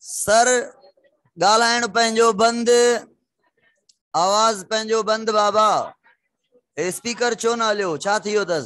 سر ڳالهائڻ پنهنجو بند آواز پنهنجو بند بابا اسپيڪر ڇو نه هليو ڇا ٿي ويو اٿس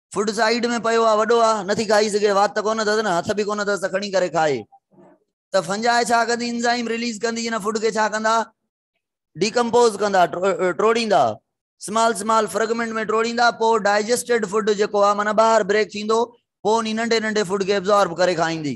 فوڊ سائيڊ ۾ پيو آ وڏو آ نٿي کائي سگهي وات ته ڪونه اٿس نه هٿ به ڪونه اٿس ته کڻي ڪري کائي ته فنجائي ڇا ڪندي انزائم ريليز ڪندي ان فوڊ کي ڇا ڪندا ڊيڪمپوز ڪندا ٽوڙيندا سمال سمال فرگمنٽ ۾ ٽوڙيندا پوء ڊائجسٽيڊ فوڊ جيڪو آ معنی ٻاهر بريڪ ٿيندو پوء انهي ننڍي ننڍي فوڊ کي ابزارب ڪري کائيندي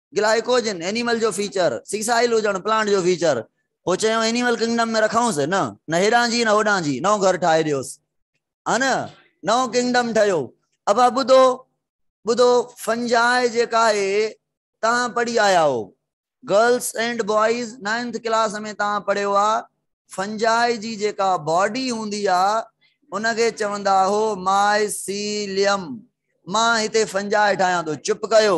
گلائيڪوجن اينيمل جو فيچر، سيسائل هجڻ پلانٽ جو فيچر. پوء چيائون اينيمل ڪنگڊم ۾ رکائونس نه، نه هيڏانهن جي نه هوڏانهن جي، نئون گهر ٺاهي ڏيوس. ها نه، نئون ڪنگڊم ٺهيو. ابا ٻڌو، ٻڌو، فنجائي جيڪا آهي، توهان پڙهي آيا آهو. Girls and boys ninth class ۾ توهان پڙهيو آ، فنجائي جي جيڪا باڊي هوندي آ، ان کي چوندا هو مائيسيليم. مان هتي فنجائي ٺاهيان ٿو. چپ ڪيو،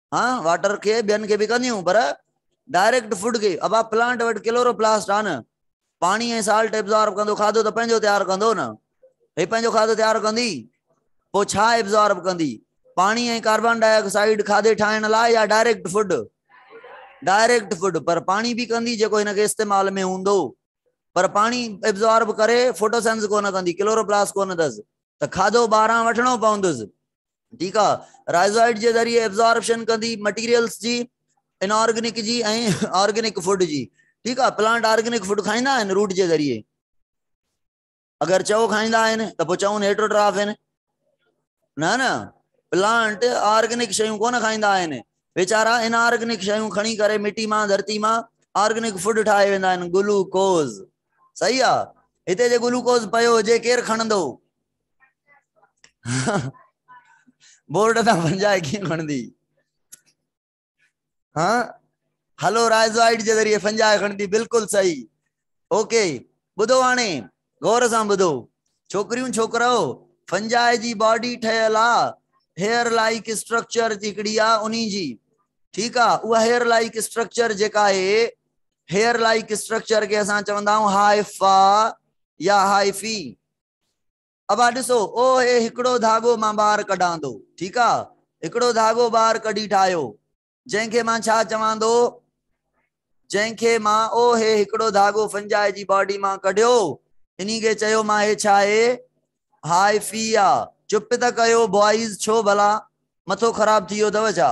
هان واٽر کي ٻين کي به ڪنديون پر ڊائريڪٽ فوڊ کي ابا پلانٽ وٽ ڪلورو پلاسٽ آ نه پاڻي ۽ سالٽ ابزارب ڪندو کاڌو ته پنهنجو تيار ڪندو نه هي پنهنجو کاڌو تيار ڪندي پو ڇا ابزارب ڪندي پاڻي ۽ ڪاربان ڊاء آڪسائيڊ کاڌي ٺاهڻ لاء يا ڊائريڪٽ فوڊ ڊائريڪٽ فوڊ پر پاڻي به ڪندي جيڪو هن کي استعمال ۾ هوندو پر پاڻي ابزارب ڪري فوٽوسينس ڪونه ڪندي ڪلورو پلاس ڪونه دز ته کاڌو ٻاهران وٺڻو پوندس ٺيڪ آ رائزائيڊ جي ذريعي ابزارپشن ڪندي مٽيريلز جي ان آرگنڪ جي ۽ آرگنڪ فوڊ جي ٺيڪ آ پلانٽ آرگنڪ فوڊ کائيندا آهن روٽ جي ذريعي اگر چئو کائيندا آهن ته پوء چئون هيٽروٽراف آهن نه نه پلانٽ آرگنڪ شيون ڪونه کائيندا آهن ويچارا ان آرگنڪ شيون کڻي ڪري مٽي مان ڌرتي مان آرگنڪ فوڊ ٺاهي ويندا آهن گلوڪوز صحيح آ هتي جي گلوڪوز پيو هجي ڪير کڻندو بورڊ تان پنجائي ڪيئن کڻندي ها هلو رائزوائيڊ جي ذريعي پنجائي کڻندي بلڪل صحيح اوڪي ٻڌو هاڻي غور سان ٻڌو ڇوڪريون ڇوڪرو فنجائي جي باڊي ٺهيل آ هيئر لائيڪ اسٽرڪچر هڪڙي آ انهي جي ٺيڪ آ اها هيئر لائيڪ اسٽرڪچر جيڪا آهي هيئر لائيڪ اسٽرڪچر کي اسان چوندا آهيون هائفا يا هائفي ابا ڏسو او هي هڪڙو ڌاڳو مان ٻار ڪڍاندو ٺيڪ آ هڪڙو ڌاڳو ٻار ڪڍي ٺاهيو جنهن کي مان ڇا چواندو جنهن کي مان او هي هڪڙو ڌاڳو فنجاء جي باڊي مان ڪڍيو انهي کي چيو مان هي ڇا آهي هائفي آ چپ ته ڪيو بوائز ڇو ڀلا مٿو خراب ٿي ويو اٿو ڇا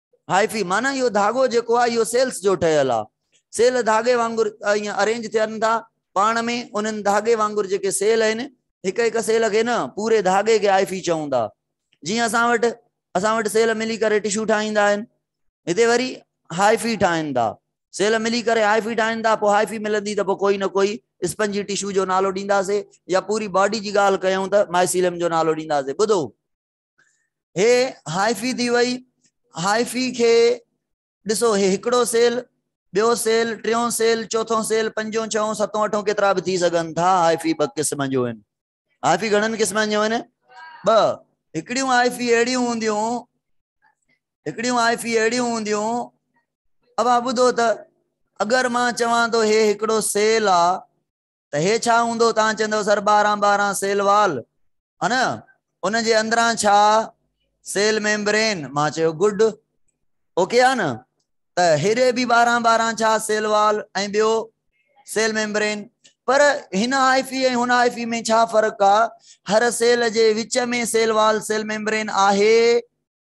هائفي، معنيٰ اهو ڌاڳو جيڪو آهي اهو سيلز جو ٺهيل آهي. سيل ڌاڳي وانگر ائين ارينج ٿين ٿا پاڻ ۾، انهن ڌاڳي وانگر جيڪي سيل آهن، هڪ هڪ سيل کي نه، پوري ڌاڳي کي هائفي چئون ٿا. جيئن اسان وٽ اسان وٽ سيل ملي ڪري ٽشو ٺاهيندا آهن، هتي وري هائفي ٺاهن ٿا. سيل ملي ڪري هائفي ٺاهن ٿا، پوء هائفي ملندي ته پوء ڪوئي نه ڪوئي اسپنجي ٽشو جو نالو ڏينداسين يا پوري باڊي جي ڳالهه ڪيون ته مائسيلم جو نالو ڏينداسين. ٻڌو! هي هائفي ٿي وئي. هائفي کي ڏسو هي هڪڙو سيل، ٻيو سيل، ٽيون سيل، چوٿون سيل، پنجون، ڇهون، ستون، اٺون ڪيترا به ٿي سگهن ٿا. هائفي ٻه قسم جون آهن. هائفي گهڻن قسمن جون آهن؟ ٻه. هڪڙيون هائفي اهڙيون هونديون هڪڙيون هائفي اهڙيون هونديون اوهان ٻڌو ته اگر مان چوان ٿو هي هڪڙو سيل آ ته هي ڇا هوندو؟ توهان چوندو سر ٻارهن ٻارهن سيل وال هن ان جي اندران ڇا سيل ميمبرين مان چيو گڊ اوڪي آ نه ته هيڏي به ٻارهن ٻارهن ڇا سيل وال ۽ ٻيو سيل ميمبرين پر هن هائفي ۽ هن هائفي ۾ ڇا فرق آ هر سيل جي وچ ۾ سيل وال سيل ميمبرين آهي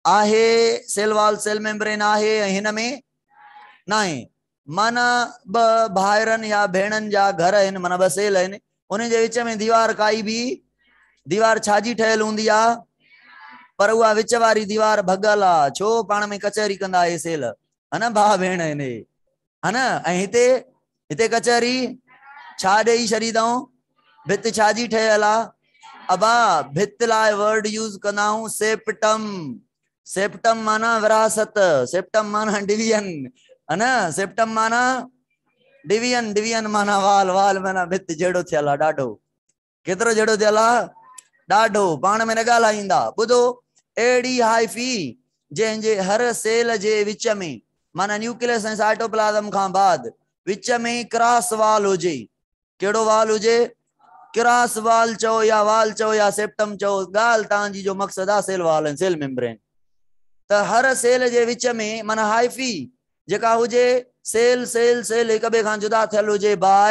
آهي سيل وال سيل ميمبرين آهي ۽ هن ۾ ناهي معنيٰ ٻه ڀائرن يا ڀيڻن جا گهر آهن معنيٰ ٻه سيل آهن انهن جي وچ ۾ ديوار ڪائي به ديوار ڇا جي ٺهيل هوندي آ پر اها وچ واري ديوار ڀڳل آ ڇو پاڻ ۾ ڪچهري ڪندا اهي سيل هن ڀاء ڀيڻ آهن ها نه ۽ هتي هتي ڪچهري ڇا ڏئي ڇڏي اٿئون ڀت ڇا جي ٺهيل آ ابا ڀت لاء ورڊ يوز ڪندا آهون سيپٽم سيپٽم معنيٰ وراثت سيپٽم معنيٰ ڊويزن ها نه سيپٽم معنيٰ ڊويزن ڊويزن معنيٰ وال وال معنيٰ ڀت جهڙو ٿيل آ ڏاڍو ڪيترو جهيڙو ٿيل آ ڏاڍو. پاڻ ۾ نه ڳالهائيندا. ٻڌو، اهڙي هائفي جنهن جي هر سيل جي وچ ۾ معنيٰ نيوڪليس ۽ سائٽوپلازم کان بعد وچ ۾ ڪراس وال هجي. ڪهڙو وال هجي؟ ڪراس وال چئو يا وال چئو يا سيپٽم چئو ڳالهه توهان جي جو مقصد آ سيل وال ۽ سيل ميمبرين ته هر سيل جي وچ ۾ معنيٰ هائفي جيڪا هجي سيل سيل سيل هڪ ٻئي کان جدا ٿيل هجي باء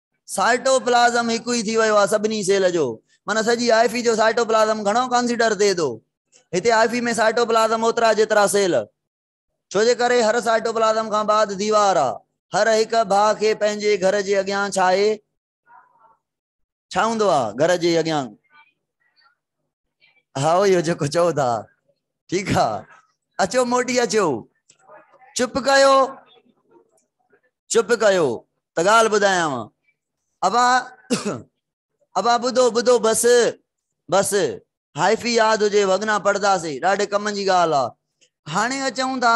سائٽوپلازم هڪ ئي ٿي ويو آهي سڀني سيل جو. معنيٰ سڄي آئفي جو سائٽوپلازم گهڻو ڪانسيڊر ٿئي ٿو. هتي آئفي ۾ سائٽوپلازم اوترا جيترا سيل. ڇو جي ڪري هر سائٽوپلازم کان بعد ديوار آهي. هر هڪ ڀاء کي پنهنجي گهر جي اڳيان ڇا آهي؟ ڇا هوندو آهي گهر جي اڳيان؟ هائو اهو جيڪو چئو ٿا ٺيڪ آ اچو موٽي اچو چپ ڪيو چپ ڪيو ته ڳالهه ٻڌايانو ابا ابا ٻڌو ٻڌو بس بس هائفي ياد هجي وڳنا پڙهنداسي ڏاڍي ڪم جي ڳالهه آ هاڻي اچون ٿا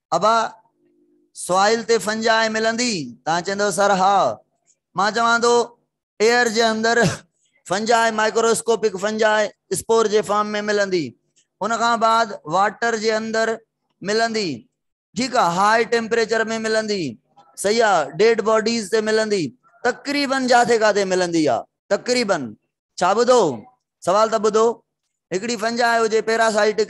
ابا سوائل تي فنجائي ملندي؟ تان چيندو سر ها. مان چوان ٿو ايئر جي اندر فنجائي مائڪروسڪوپڪ فنجائي اسپور جي فارم ۾ ملندي. ان کان بعد واٽر جي اندر ملندي ٺيڪ آ هاء ٽيمپريچر ۾ ملندي صحيح آ ڊيڊ باڊيز تي ملندي تقريبن جاٿي ڪاٿي ملندي آ تقريبن ڇا ٻڌو سوال ته ٻڌو هڪڙي فنجائي هجي پيراسائٽڪ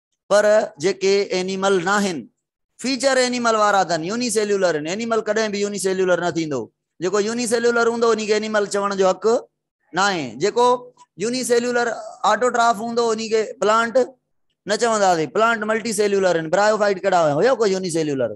پر جيڪي اينيمل ناهن، فيچر اينيمل وارا اٿن، يوني سيليولر هن، اينيمل ڪڏهن به يوني سيليولر نه ٿيندو، جيڪو يوني سيليولر هوندو انهي کي اينيمل چوڻ جو حق ناهي، جيڪو يوني سيليولر آٽوٽراف هوندو انهي کي پلانٽ نه چونداسين، پلانٽ ملٽي سيليولر هن، برايوفائٽ ڪهڙا هيا، هيو ڪو يوني سيليولر؟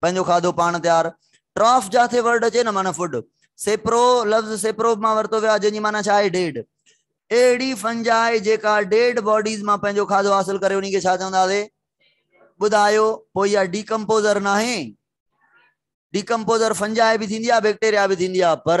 پنهنجو کاڌو پاڻ تيار. ٽراف جاٿي ورڊ اچي نه معنيٰ فوڊ. سيپرو لفظ سيپروب مان ورتو ويو آهي جنهن جي معنيٰ ڇا آهي ڊيڊ. اهڙي فنجائي جيڪا ڊيڊ باڊيز مان پنهنجو کاڌو حاصل ڪري انهي کي ڇا چونداسي ٻڌايو پوء اها ڊيڪمپوزر ناهي. ڊيڪمپوزر فنجائي به ٿيندي آهي بيڪٽيريا به ٿيندي آهي پر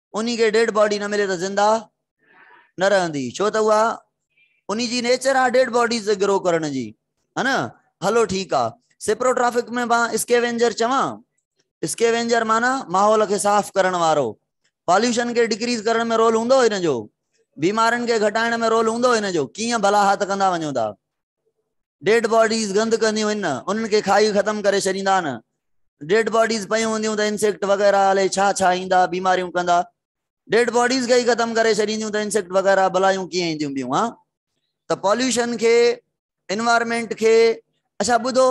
انهي کي ڊيڊ باڊي نه ملي ته زنده نه رهندي ڇو ته اها انهي جي نيچر آ ڊيڊ باڊيز تي گرو ڪرڻ جي ها نه هلو ٺيڪ آ سپروٽرافڪ ۾ مان اسڪيوينجر چوان اسڪيوينجر معنی ماحول کي صاف ڪرڻ وارو پاليوشن کي ڊڪريز ڪرڻ ۾ رول هوندو هن جو بيمارين کي گهٽائڻ ۾ رول هوندو هن جو ڪيئن ڀلا هٿ ڪندا وڃو ٿا ڊيڊ باڊيز گند ڪنديون هن انهن کي کائي ختم ڪري ڇڏيندا آهن ڊيڊ باڊيز پيون هونديون ته انسيڪٽ وغيره الي ڇا ڇا ايندا بيماريون ڪندا ڊيڊ باڊيز کي ختم ڪري ڇڏينديون ته انسيڪٽ وغيره بلايون ڪيئن اينديون بيون ها ته پاليوشن کي انوائرمنٽ کي اچھا ٻڌو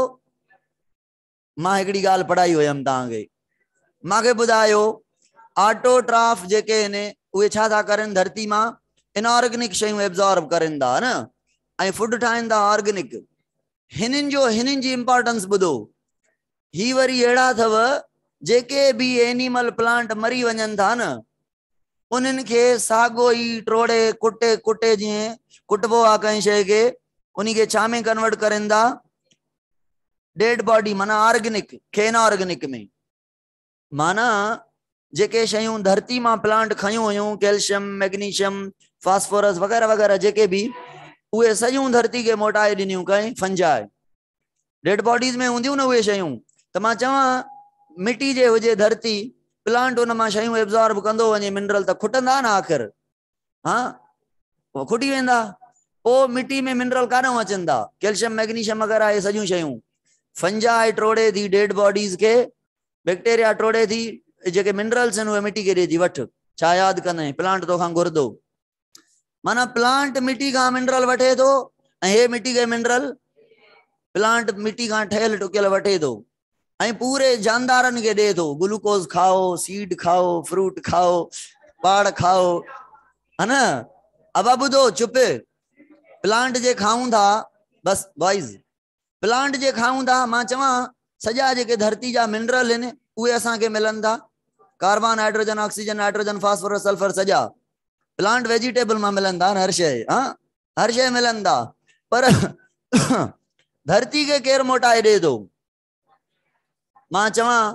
مان هڪڙي ڳالهه پڙهائي هيم توهان کي مان کي ٻڌايو آٽوٽراف جيڪي آهن اهي ڇا ٿا ڪرن ڌرتي مان ان آرگنڪ شيون ابزارب ڪرن ٿا نه ۽ فوڊ ٺاهن ٿا آرگنڪ هنن جو هنن جي امپارٽنس ٻڌو هي وري اهڙا اٿو جيڪي به اينيمل پلانٽ مري وڃن ٿا نه انهن کي ساڳو ئي ٽوڙي ڪٽي ڪٽي جيئن ڪٽبو آ ڪنهن شيء کي انهي کي ڇا ۾ ڪنورٽ ڪرين ٿا ڊيڊ باڊي معنی آرگنڪ کي ان آرگنڪ ۾ معنی جيڪي شيون ڌرتي مان پلانٽ کيون هيون ڪيلشيم ميگنيشيم فاسفورس وغيرہ وغيرہ جيڪي به اهي سڄيون ڌرتي کي موٽائي ڏنيون ڪئين فنجائي ڊيڊ باڊيز ۾ هونديون نه اهي شيون ته مان چوان مٽي جي هجي ڌرتي پلانٽ ان مان شيون ابزارب ڪندو وڃي منرل ته کٽندا نه آخر ها کٽي ويندا پوء مٽي ۾ منرل ڪاڏو اچن ٿا ڪيلشم ميگنيشم وغيرہ اهي سڄيون شيون فنجا ٽوڙي ٿي ڊيڊ باڊيز کي بيڪٽيريا ٽوڙي ٿي جيڪي منرلس آهن اهي مٽي کي ڏي ٿي وٺ ڇا ياد ڪندين پلانٽ توکان گهردو معنی پلانٽ مٽي کان منرل وٺي ٿو ۽ هي مٽي کي منرل پلانٽ مٽي کان ٺهيل ٽڪيل وٺي ٿو ۽ پوري جاندارن کي ڏي ٿو گلوڪوز کائو سيڊ کائو فروٽ کائو پاڙ کائو ها نه ابا ٻڌو چپ پلانٽ جي کائون ٿا بس بوائز پلانٽ جي کائون ٿا، مان چوان سڄا جيڪي ڌرتي جا منرل هن اهي اسان کي ملن ٿا، carbon, hydrogen, oxygen, nitrogen, phosphorus, sulphur سڄا پلانٽ ويجيٽيبل مان ملن ٿا نه هر شيء ها هر شيء ملن ٿا پر ڌرتي کي ڪير موٽائي ڏي ٿو مان چوان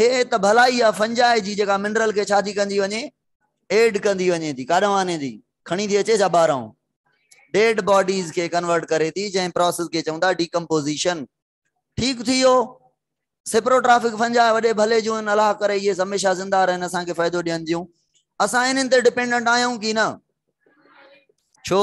هي ته ڀلا اها فنجاء جي جيڪا منرل کي ڇا ٿي ڪندي وڃي ايڊ ڪندي وڃي ٿي ڪاڏانهن آني ٿي کڻي ٿي اچي ڇا ٻاهران ڊيڊ باڊيز کي ڪنورٽ ڪري ٿي جنهن پروسيس کي چون ٿا ڊيڪمپوزيشن ٺيڪ ٿي ويو سپروٽرافڪ فنجاء وڏي ڀلي جون ان الاح ڪري اهي هميشه زنده رهن اسان کي فائدو ڏين ٿيون اسان انهن تي ڊپينڊنٽ آهيون ڪي نه ڇو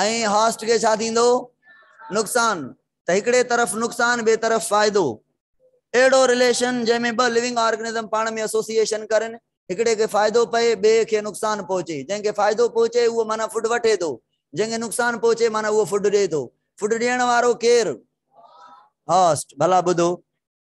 ۽ هاسٽ کي ڇا ٿيندو؟ نقصان ته هڪڙي طرف نقصان ٻئي طرف فائدو. اهڙو رليشن جنهن ۾ ٻه لونگ آرگنزم پاڻ ۾ اسوسيئيشن ڪرن، هڪڙي کي فائدو پئي ٻئي کي نقصان پهچي، جنهن کي فائدو پهچي اهو معنيٰ فوڊ وٺي ٿو، جنهن کي نقصان پهچي معنيٰ اهو فوڊ ڏئي ٿو. فوڊ ڏيڻ وارو ڪير؟ هاسٽ. ڀلا ٻڌو.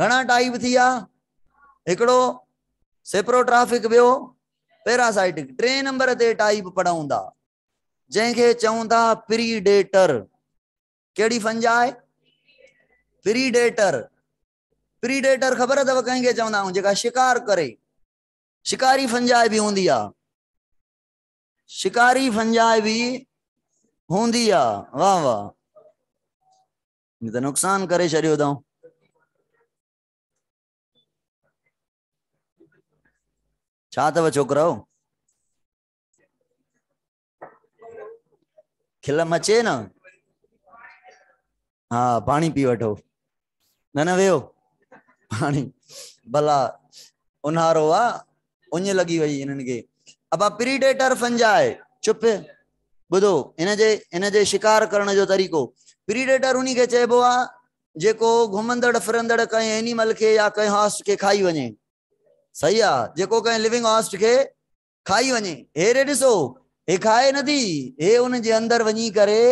گهڻا ٽائيپ ٿيا، هڪڙو سيپروٽرافڪ ٻيو پيراسائٽڪ، ٽئين نمبر تي ٽائيپ پڙهون ٿا جنهن کي چئون ٿا پريڊيٽر، ڪهڙي فنجاء؟ پريڊيٽر، پريڊيٽر خبر اٿو ڪنهن کي چوندا آهيون جيڪا شڪار ڪري، شڪاري فنجاء به هوندي آهي، شڪاري فنجاء به هوندي آهي، واهه واهه. هن ته نقصان ڪري ڇڏيو اٿئون ڇا اٿو ڇوڪرو کلم اچي نه ها پاڻي پي وٺو نه نه ويو پاڻي ڀلا اونهارو آ اڃ لڳي وئي هنن کي ابا پريڊيٽر فنجاء چپ ٻڌو هن جي هن جي شڪار ڪرڻ جو طريقو پريڊيٽر انهي کي چئبو آ جيڪو گهمندڙ ڦرندڙ ڪنهن اينيمل کي يا ڪنهن هاسٽ کي کائي وڃي صحيح آ جيڪو ڪنهن ليونگ هاسٽ کي کائي وڃي هي ري ڏسو هي کائي نه ٿي هي ان جي اندر وڃي ڪري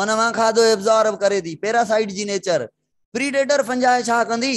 ان مان کاڌو ابزارب ڪري ٿي پيراسائيٽ جي نيچر پريڊيٽر فنجاء ڇا ڪندي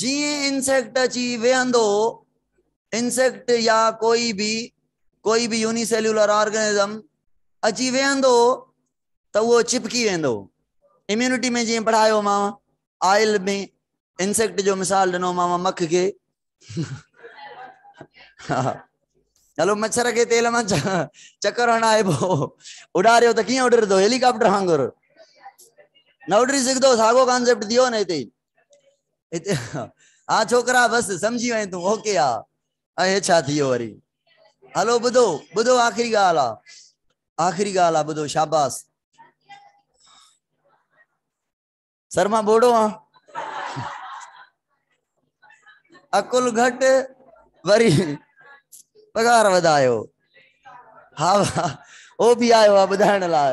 جيئن انسيڪٽ اچي ويهندو هو، انسيڪٽ يا ڪوئي به ڪوئي به يوني سيلولر آرگنزم اچي ويهندو هو ته اهو چپڪي ويندو هو اميونٽي ۾ جيئن پڙهايو ماو آئل ۾ انسيڪٽ جو مثال ڏنو ماو مک کي هلو مڇر کي تيل مان چڪر هڻائي پو اڏاريو ته ڪيئن اڏرندو هيليڪاپٽر وانگر نه اڏري سگھندو ساڳو ڪانسيپٽ ٿيو نه هتي ها ڇوڪرا بس سمجهي وئين تون اوڪي ها ۽ هي ڇا ٿيو وري هلو ٻڌو ٻڌو آخري ڳالهه آ آخري ڳالهه آ ٻڌو شاباس سر مان بوڙو آ عقل گهٽ وري پگهار وڌايو ها او به آيو آ ٻڌائڻ لاء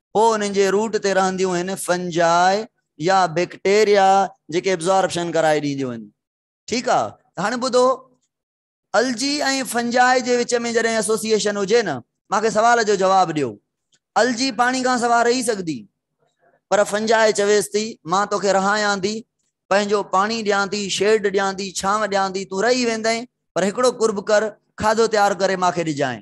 پوء انهن جي روٽ تي رهنديون هن فنجاء يا بيڪٽيريا جيڪي ابزاربشن ڪرائي ڏينديون هن ٺيڪ آ ته هاڻي ٻڌو الجي ۽ فنجاء جي وچ ۾ جڏهن ايسوسيئيشن هجي نه مان کي سوال جو جواب ڏيو الجي پاڻي کان سوا رهي سگهندي پر فنجاء چويس ٿي مان توکي رهايان ٿي پنهنجو پاڻي ڏيان ٿي شيڊ ڏيان ٿي ڇانو ڏيان ٿي تون رهي ويندين پر هڪڙو قرب ڪر کاڌو تيار ڪري مان کي ڏجانء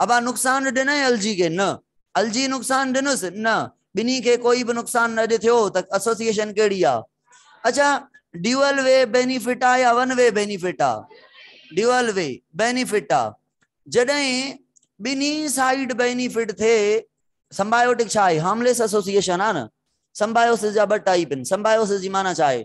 ابا نقصان ڏنئين الجي کي؟ نه. الجي نقصان ڏنس؟ نه. ٻنهي کي ڪوئي به نقصان نه اڄ ٿيو ته ايسوسيئيشن ڪهڙي آ؟ اڇا ڊيوئل وي بينيفٽ آ يا ون وي بينيفٽ آ؟ ڊيوئل وي بينيفٽ آ. جڏهن ٻنهي سائيڊ بينيفٽ ٿئي سمبايوٽڪ ڇا آهي؟ هارمليس ايسوسيئيشن آ نه. سمبايوسس جا ٻه ٽائيپ آهن. سمبايوسس جي معنيٰ ڇا آهي؟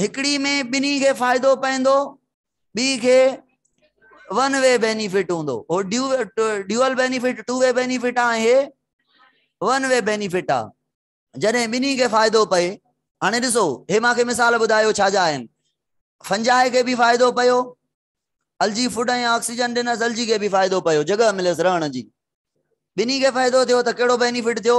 هڪڙي ۾ ٻنهي کي فائدو پوندو ٻي کي ون وي بينيفٽ هوندو هو ڊيو dual benefit two way benefit آهي ون وي بينيفٽ آ جڏهن ٻنهي کي فائدو پئي هاڻي ڏسو هي ماکي مثال ٻڌايو ڇا جا آهن فنجائي کي به فائدو پيو الجي فوڊ ۽ آڪسيجن ڏنس الجي کي به فائدو پيو جڳهه مليس رهڻ جي ٻنهي کي فائدو ٿيو ته ڪهڙو بينيفٽ ٿيو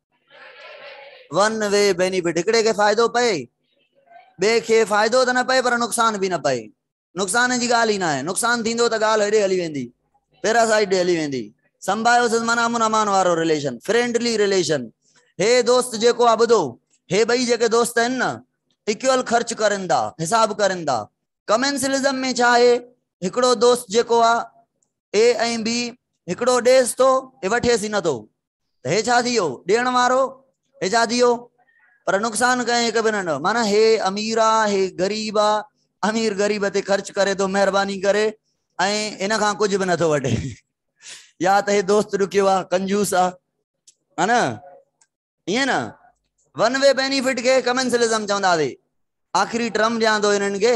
ون وي بينيفٽ هڪڙي کي فائدو پئي ٻئي کي فائدو ته نه پئي پر نقصان به نه پئي نقصان جي ڳالهه ئي نه آهي نقصان ٿيندو ته ڳالهه هيڏي هلي ويندي پيراسائيٽ ڏي هلي ويندي سمبايوسز مانا امن امان وارو رليشن فرينڊلي رليشن هي دوست جيڪو آ ٻڌو هي ٻئي جيڪي دوست آهن نه اڪول خرچ ڪرن ٿا حساب ڪرن ٿا ڪمنسلزم ۾ ڇا آهي هڪڙو دوست جيڪو آ اي ۽ بي هڪڙو ڏيس ٿو هي وٺيس ئي نٿو ته هي ڇا ٿي ويو؟ ڏيڻ وارو، هي ڇا ٿي ويو؟ پر نقصان ڪنهن هڪ به نه ڏنو. معنيٰ هي امير آ، هي غريب آ، امير غريب تي خرچ ڪري ٿو مهرباني ڪري ۽ ان کان ڪجهه به نٿو وٺي. يا ته هي دوست ڏکيو آ، ڪنجوس آ. ها نه؟ ائين نه؟ ون وي بينيفٽ کي ڪمنسلزم چوندا سي. آخري ٽرم ڏيان ٿو هنن کي،